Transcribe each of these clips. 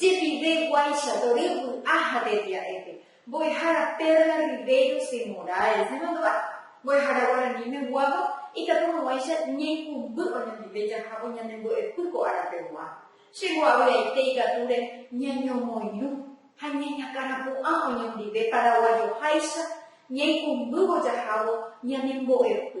Jepive guáicha tory vy'a ha tetia'épe, Mbo'ehára Perla Ribeiro de Moraes nemandúva, Mbo'ehára Guarani meguávo ikatu haguãicha ñaikũmby oñondive jahávo ñane mbo'epy ko árapeguã. Che mbo'avy'aite ikatúre ñañomoirũ ha ñañakãrapu'ã oñondive paraguayoháicha ñaikũmbývo jahávo ñane mbo'epy.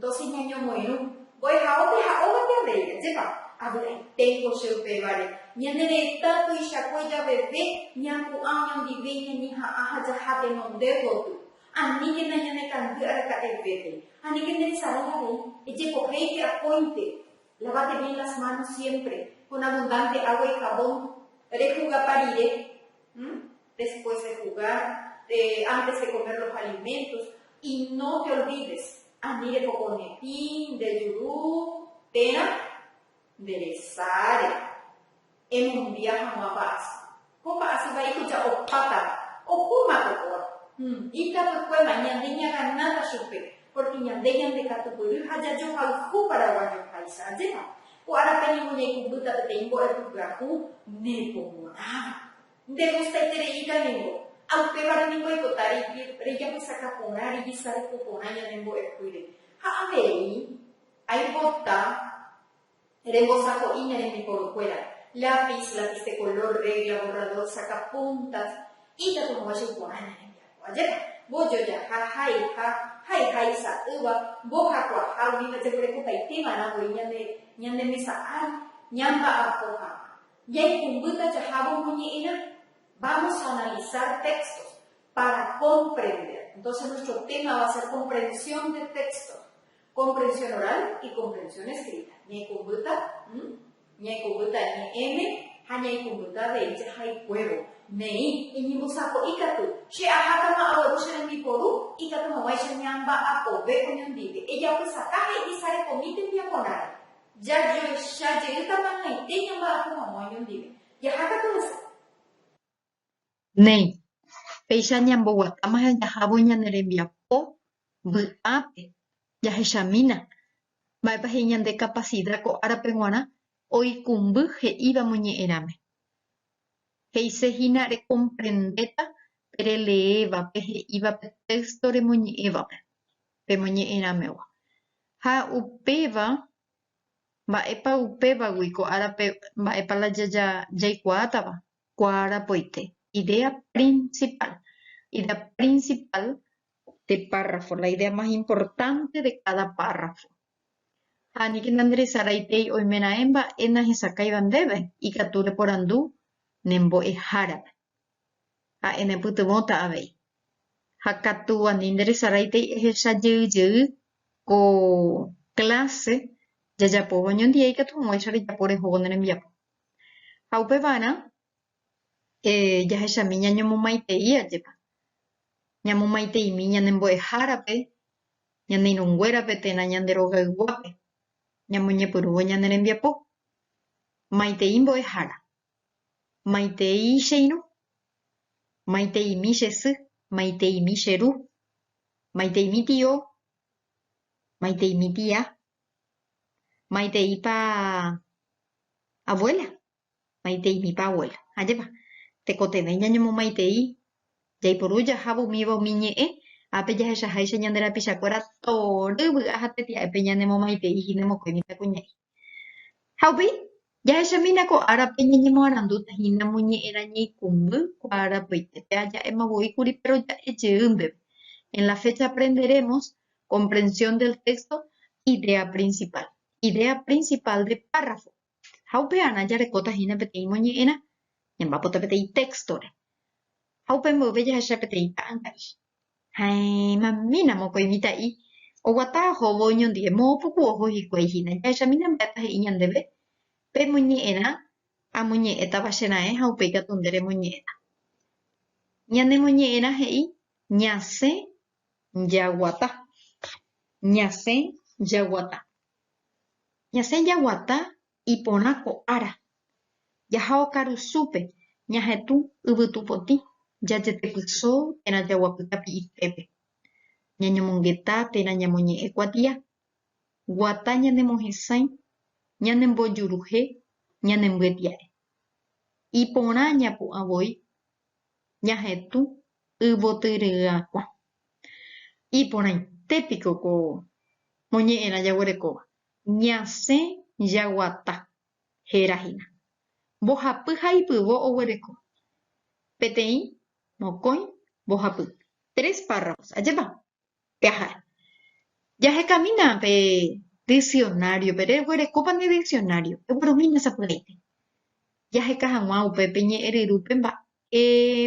Dosis ñañomoirũ, mbo'ehaópe ha óga ñandéi, ajépa, avy'aiténgo che upévare, ñane retã tuichakue javeve, ñapu'ã oñondive iñañeha'ã ha jaha tenonde gotyo. Aníkena ñanekangy araka'evépe. Aníkena ensalada rei, ejepohéike akóinte. Lávate bien las manos siempre, con abundante agua y jabón, rejugapa rire. después de jugar, antes de comer los alimentos, y no te olvides, ani rehokõne pĩ, ndejuru térã, nderesáre, emombia hag̃ua pa'asy, ko pa'asy vaíko ja'opátava, ohóma ko kóa, hum, ikatuykuéma, ñande ñaganáta chupe, porque ñande ñandekatupyry ha jajohayhu paraguayoháicha, ajépa, ko árape ningo ñaikũmbýta peteĩ mbo'epyhaku nepomo'ãva, Nde gustaiterei ikanengo, ha upévare ningo aipota rejapysaka porã, rejesareko porã ñane mbo'epýre. Ha avei aipota rembosako'i ña rembiporukuéra, lápiz, lápiz de color, regla, borrador, sacapuntas, ikatu hag̃ua che iporã ña rembiapo. Ajépa, mbojojaha, haiha, haihai sa'ýva, mbohakuaaha, umíva jekorekotaitéma rã voi ñane mesa ári, ñamba'apo hag̃ua. Ñaikũmbýta jahávo omoñe'ẽrã. Vamos a analizar textos para comprender. Entonces nuestro tema va a ser comprensión de texto. Comprensión oral y comprensión escrita. Ñaikũmbýta m, ñaikũmbýta ñe'ẽme ha ñaikũmbýta avei jahaykuévo. Neĩ, Eñembosako'i katu, che ahákama agueru che rembiporu, ikatumoguáicha ñamba'apove oñondive. Ejapysaka ha ejesarekomi tembiaporãre. Jajoecha jeýta mañaite ñamba'apo hag̃ua oñondive. Jaha katu hese. Néi, péicha ñamboguatáma ha jahávo ñane rembiapo vy'ápe, jahechamína mba'épa he'i ñande kapasida ko árape g̃uarã oikũmby he'íva moñe'ẽrãme. He'ise hína rekomprendéta pe releéva, pe he'íva pe téysto remoñe'ẽvape. pemoñe'ẽrãmegua. Ha upéva, mba'épa upévagui ko árape mba'épa la jaikuaátava? Kuaarapoite, idea principal. Idea principal de párrafo, la idea más importante de cada párrafo. Ha aníke nandresaraitéi oimeraẽ mba'e nahesakãiva ndéve ikatu reporandu ne mbo'ehárape. ha'e nepytyvõta avei. Ha katu ani nderesaraitéi ehecha jey jey ko clase jajapóva oñondive ikatu hag̃uáicha rejapo rehóvo ne rembiapo. Ha upevarã jahechami ñañomomaitei ajépa. Ñamomaiteimi ñane mbo'ehárape, ñane irũ nguérape térã ñande rogayguápe. Ñamoñepyrũvo ñane rembiapo. Maitei mbo'ehára. Maitei che irũ. Maiteimi che sy. Maiteimi che ru. Maiteimi tio. Maiteimi tia. Maiteipa abuela. Maiteimipa abuela. Ajépa. Tekotevẽ ñañemomaitei. Jaiporu jahávo umíva umi ñe'ẽ. Ápe jahechaháicha ñande rapichakuéra tory vy'a ha tetia'épe ñanemomaitei hína mokõi mitãkuña'i. Ha upéi, jahechamína ko árape ñañemoarandúta hína moñe'ẽrã ñeikũmby kuaarapyite, pe aja'éma voi kuri pe roja'e jeýmbeve, en la fecha aprenderemos, comprensión del texto, idea principal, idea principal de párrafo. Ha upearã jarekóta hína peteĩ moñe'ẽrã, ñamba'apóta peteĩ texto-re. Ha upe mboyve jahecha peteĩ ta'ãngári. Ha'éma mína mokõi mitã'i oguata ohóvo oñondive, moõ puku oho hikuái hína. Jahechamína mba'épa he'i ñandéve, Pemoñe'ẽrã, amoñe'ẽtava che raẽ ha upéi katu nde remoñe'ẽta. Ñanemoñe'ẽrã he'i, Ñasẽ jaguata. Ñasẽ jaguata. Ñasẽ jaguata Iporã ko ára. Jaha okarusúpe, ñahetũ yvytupotĩ, jajetepyso térã jaguapy tapi'itépe. Ñañomongeta térã ñamoñe'ẽ kuatia. Guata ñanemohesãi, ñanembojuruhe, ñanembyepia'e. Iporã ñapu'ã voi ñahetũ yvotyryiakuã. Iporãite piko ko moñe'ẽrã jaguerekóva. Ñasẽ jaguata, héra hína. Mbohapy ha ipyvo oguereko. Peteĩ, mokõi, mbohapy. Tres párrafos. Ajépa pe aha'e. Jahekamína pe diksionáriope. Reguerekópa ne diksionário. Eguerumína sapy'aite. Jaheka hag̃ua upe pe ñe'ẽ ryrúpe mba'e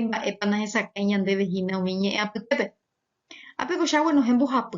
mba'épa nahesakãi ñandéve hína umi ñe'ẽ apytépe. Ha pe ko'ág̃ua nohẽ mbohapy.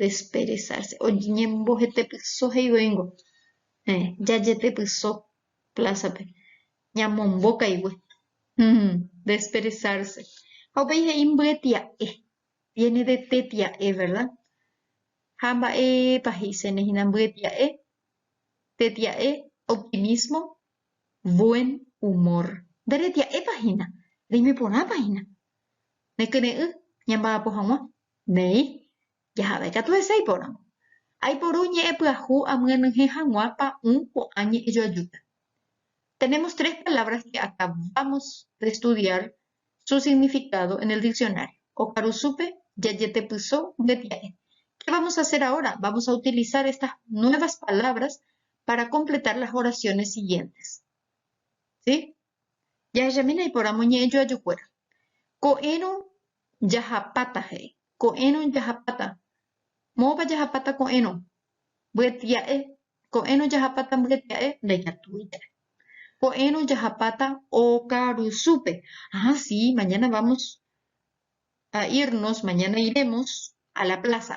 desperezárse, oñembohetepyso he'ivoíngo, eh, jajetepyso plásape, ñamombo kaigue, mm, desperezárse. Ha upéi he'i mbyetia'e, viene de tetia'e, verda? Ha mba'épa he'isene hína mbyetia'e? Tetia'e, optimismo, buen humor. Nde retia'épa hína, reime porãpa hína. Nekyre'ỹ ñamba'apo hag̃ua, Néi, jaha'éva ikatu hese iporãvo. Aiporu ñe'ẽ pyahu amyenyhẽ hag̃ua pa'ũ ko'ã ñe'ẽjoajúpe. Tenemos tres palabras que acabamos de estudiar su significado en el diccionario. Okarusúpe jajetepyso mbetia'e. Qué vamos a hacer ahora? Vamos a utilizar estas nuevas palabras para completar las oraciones siguientes. ¿Sí? Jahechamína iporãmo ñe'ẽjoajukuéra. Ko'ẽrõ jahapáta he'i. Ko'ẽrõ jahapáta. Moõpa jahapáta ko'ẽrõ? Mbyetia'e. Ko'ẽrõ jahapáta mbyetia'e? Ndaikatúi ja'e. Ko'ẽrõ jahapáta okarusúpe. Aa si, mañana vamos a irnos, mañana iremos, a la plaza.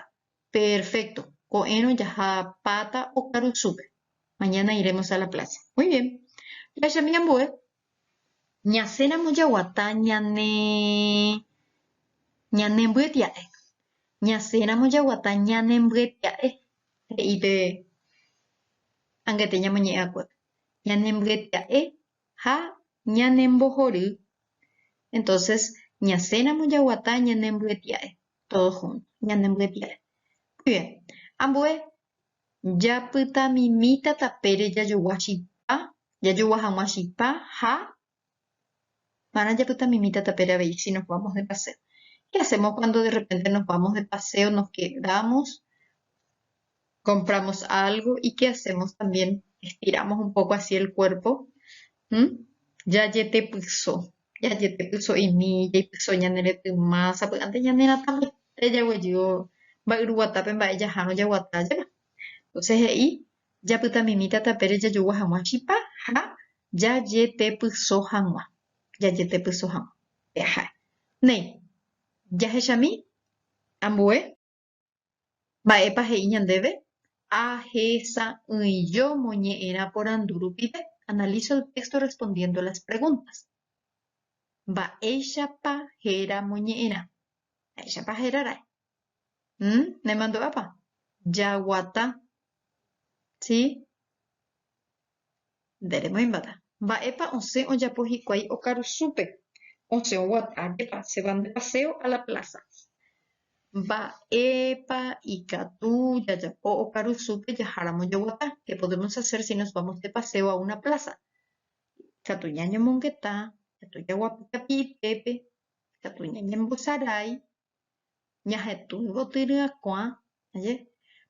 Perfecto, ko'ẽrõ jaha pata okarusúpe. Mañana iremos a la plaza. Muy bien. Jahechámi ambue. Ñasẽramo jaguata ñane ñanembyetya'e. Ñasẽramo jaguata ñanembyetya'e, he'i pe angete ñamoñe'ẽakuépe. Ñanembyetya'e ha ñanembohory, entonces ñasẽramo jaguata ñanembyetya'e todos juntos, ñanembyetya'e. Muy bien, ambue japytamimíta tapére jajogua chipa, jajogua hag̃ua chipa ha marã japytamimíta tapére avei si nos vamos de paseo. Qué hacemos cuando de repente nos vamos de paseo, nos quedamos Compramos algo y que hacemos también estiramos un poco así el cuerpo Hum? Jajetepyso. Jajetepyso'imi, jaipyso ñane retyma, sapy'ánte ñane ratãmbaite jaguejývo mba'yru guatápe mba'e jahárõ jaguata jave. Entonces he'i, Japytamimíta tapére jajogua hag̃ua chipa ha jajetepyso hag̃ua. Jajetepyso hag̃ua. Peaha'e. Néi, jahechami ambue. Mba'épa he'i ñandéve? Ahesa'ỹijo moñe'ẽrã porandu rupive, analizo el texto respondiendo las preguntas. Mba'éichapa héra moñe'ẽrã? Mba'éichapa héra ra'e? Hm, nemandu'ápa? Jaguata. Sí. Nde remoĩmbáta. Mba'épa osẽ ojapo hikuái okaru súpe? Osẽ oguata jepa che van de paseo a la plaza. Mba'épa ikatu jajapo okaru súpe jaháramo jaguata? Qué podemos hacer si nos vamos de paseo a una plaza? Ikatu ñañomongeta, ikatu jaguapy kapii pépe, ikatu ñañembosarái, Ñahetũ gotyryakuã aje,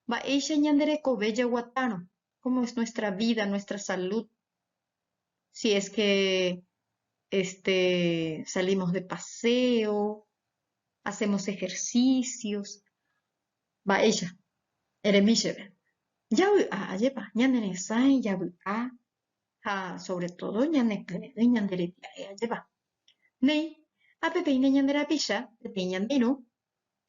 mba'éicha ñande rekove jaguatárõ, cómo es nuestra vida, nuestra salud, si es que este salimos de paseo, hacemos ejercicios, mba'éicha eremi chéve. Javy'a ajépa, ñane resãi javy'a, ha sóvre tódo ñanepy'ỹi ñande rembiae ajépa. Néi, ha peteĩne ñande rapicha, peteĩ ñande irũ.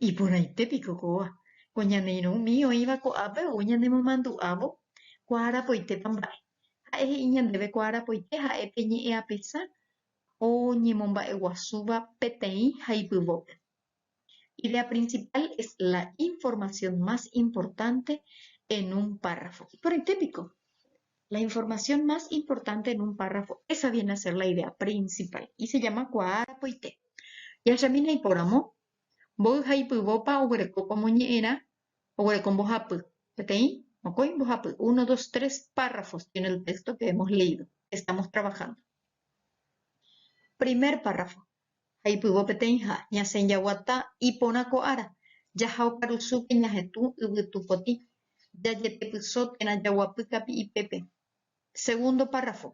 Iporãite piko kóva, ko ñane irũ umi oĩva ko'ápe ou ñanemomandu'ávo kuaarapoitépa mba'e. Ha'e he'i ñandéve kuaarapoite ha'e pe ñe'ẽapesã oñemomba'eguasúva peteĩ ha ipyvópe. Idea principal es la información más importante en un párrafo. Iporãite piko? La información más importante en un párrafo, esa viene a ser la idea principal y se llama kuaa arapoite. Jahechamína ipóramo, mboy ha ipyvópa oguerekópa omoñe'ẽrã, oguereko mbohapy, peteĩ, mokõi mbohapy, uno, dos, tres párrafos tiene el texto que hemos leído, que estamos trabajando. Primer párrafo, Jaipyvo peteĩha, ñasẽ jaguata iporã ko ára, jaha okarusúpe ñahetũ yvytu potĩ, jajetepyso térã jaguapy kapi'ipépe. Segundo párrafo,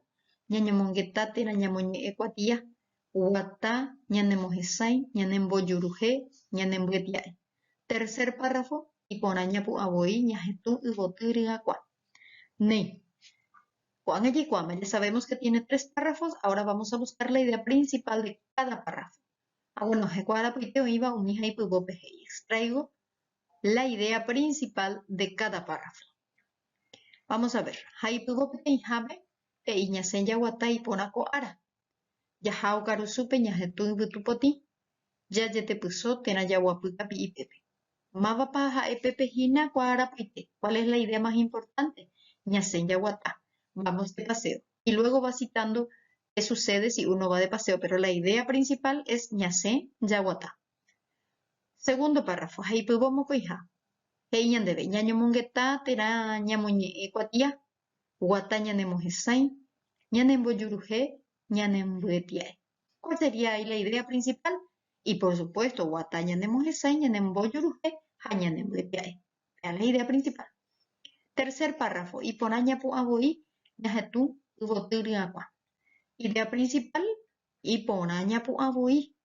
ñañomongeta térã ñamoñe'ẽ kuatia, guata, ñanemohesãi, ñanembojuruhe, ñanembyetya'e. Tercer párrafo, iporã ñapu'ã voi ñahetũ yvoty ryakuã. Néi. Ko'ág̃a jaikuaáma, jasavémos ke tiene tres párrafos, aóra vámos a buskár la idea prinsipál de káda párrafo. Ha gueno, heko arapoite oĩva umi ha ipyvópe he'i, extraigo la idea prinsipál de káda párrafo. Vámos a ver. Ha ipyvo peteĩhápe he'i ñasẽ jaguata iporã ko ára. Jaha okarusúpe ñahetũ yvytu potĩ. Jajetepyso térã jaguapy kapi'ipépe. Mávapa ha'e pépe hína kua arapoite? Cuál es la idea más importante? Ñasẽ jaguata. Vamos de paseo. Y luego va citando qué sucede si uno va de paseo, pero la idea principal es ñasẽ jaguata. Segundo párrafo, he'ipyvo mokõiha. He'i ñandéve, Ñañomongeta térã ñamoñe'ẽ kuatia, guata ñanemohesãi, ñanembojuruhe, ñanembyetiae. Kua sería ai la idea principal. Y por supuesto, guata ñanemohesãi, ñanembojuruhe ha ñanembyetiae. Pea la idea principal. Tercer párrafo, iporã ñapu'ã voi ñahetũ yvoty ryakuã. Idea principal, iporã ñapu'ã voi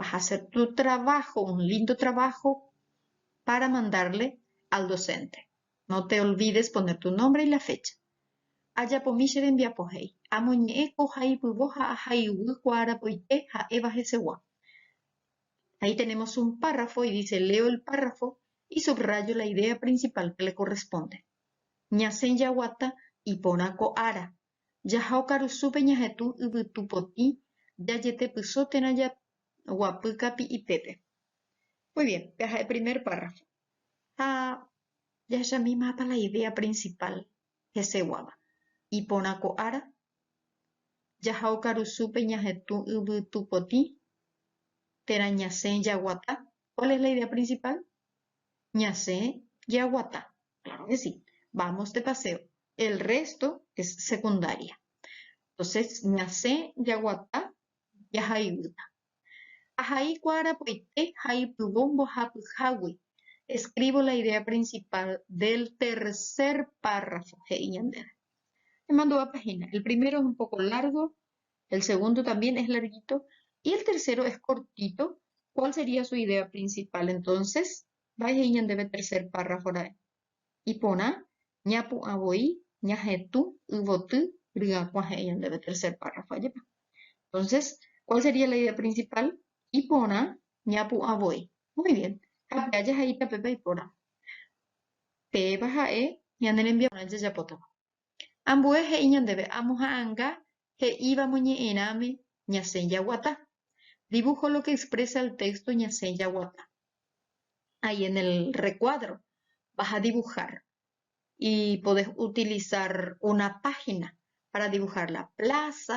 vas a hacer tu trabajo, un lindo trabajo para mandarle al docente. No te olvides poner tu nombre y la fecha. Ajapomi che rembiapo he'i, amoñe'ẽ ko haypyvo ha aha iguy kuaarapoite ha'éva hesegua. Ahí tenemos un párrafo y dice leo el párrafo y subrayo la idea principal que le corresponde. Ñasẽ jaguata iporã ko ára Jaha okarusúpe ñahetũ yvytu potĩ jajetepyso térã jaguapy kapi'ipépe. Muy bien, peha'e primer párrafo. Ha jahechamíma apa la idea principal heseguáva. Iporã ko ára, jaha okarusúpe ñahetũ yvytu potĩ térã ñasẽ jaguata. Kuál es la idea prinsipál? Ñasẽ jeaguata, kláro ke si, vámos de paseo, el rrésto es sekundária. Entónses ñasẽ jaguata jaha yvýta. Ahai kuaarapoite ha ipyvo mbohapyhágui, escribo la idea principal del tercer párrafo, he'i ñandéve. Emandu'a página, el primero es un poco largo, el segundo también es larguito y el tercero es cortito, ¿cuál sería su idea principal? Entonces, vai he'i ñandéve tercer párrafo ra'e. Iporã ñapu'ã voi ñahetũ yvoty ryakuã he'i ñandéve tercer párrafo, ajépa. Entonces, ¿cuál sería la idea principal? Iporã ñapu'ã voi. Muy bien. Ha pe aja he'íta péva iporã. Péva ha'e ñane rembiaporã jajapótava. Ambue he'i ñandéve amoha'ãnga he'íva moñe'ẽrãme ñasẽ jaguata. Dibujo lo que expresa el texto ñasẽ jaguata. Ahí en el recuadro vas a dibujar y podés utilizar una página para dibujar la plaza,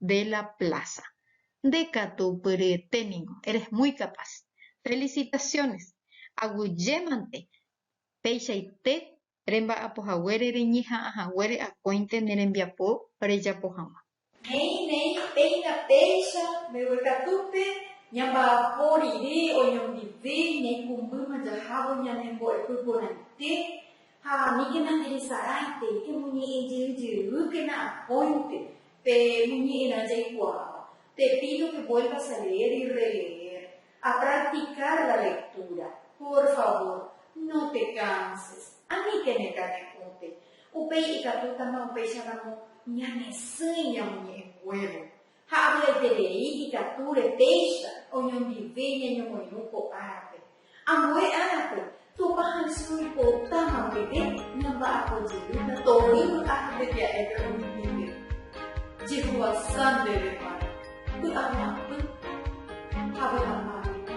de la plaza. Nde katu pyryete ningo, eres muy capaz. Felicitaciones! Aguyjémante peichaite remba'apo haguére reñeha'ã haguére akóinte ne rembiapo rejapo hag̃ua. Néi, néi, péina péicha, mbeguekatúpe ñamba'apo rire oñondive ñaikumbýma jahávo ñane mbo'epy porãite, Ha aníkena jeresarãitei pe moñe'ẽ jey jeýkena akóinte pe moñe'ẽrã jaikuaáva, te pído que vuelvas a leer y releer, a practicar la lectura. Por favor, no te canses. Aníkene kane'õte. Upéi ikatútama upéicharamo ñanesỹi ñamoñe'ẽnguévo. Ha avy'aiterei ikatu repéicha oñondive ñañomoirũ ko árape. Ambue árape, Tupã haysy oipotáma guive ñamba'apo jeýta tovy vy'a ha tembia'épe oñohẽngue. Jehovasa ndéve kuára, vy'a guapy ha vy'a mágui.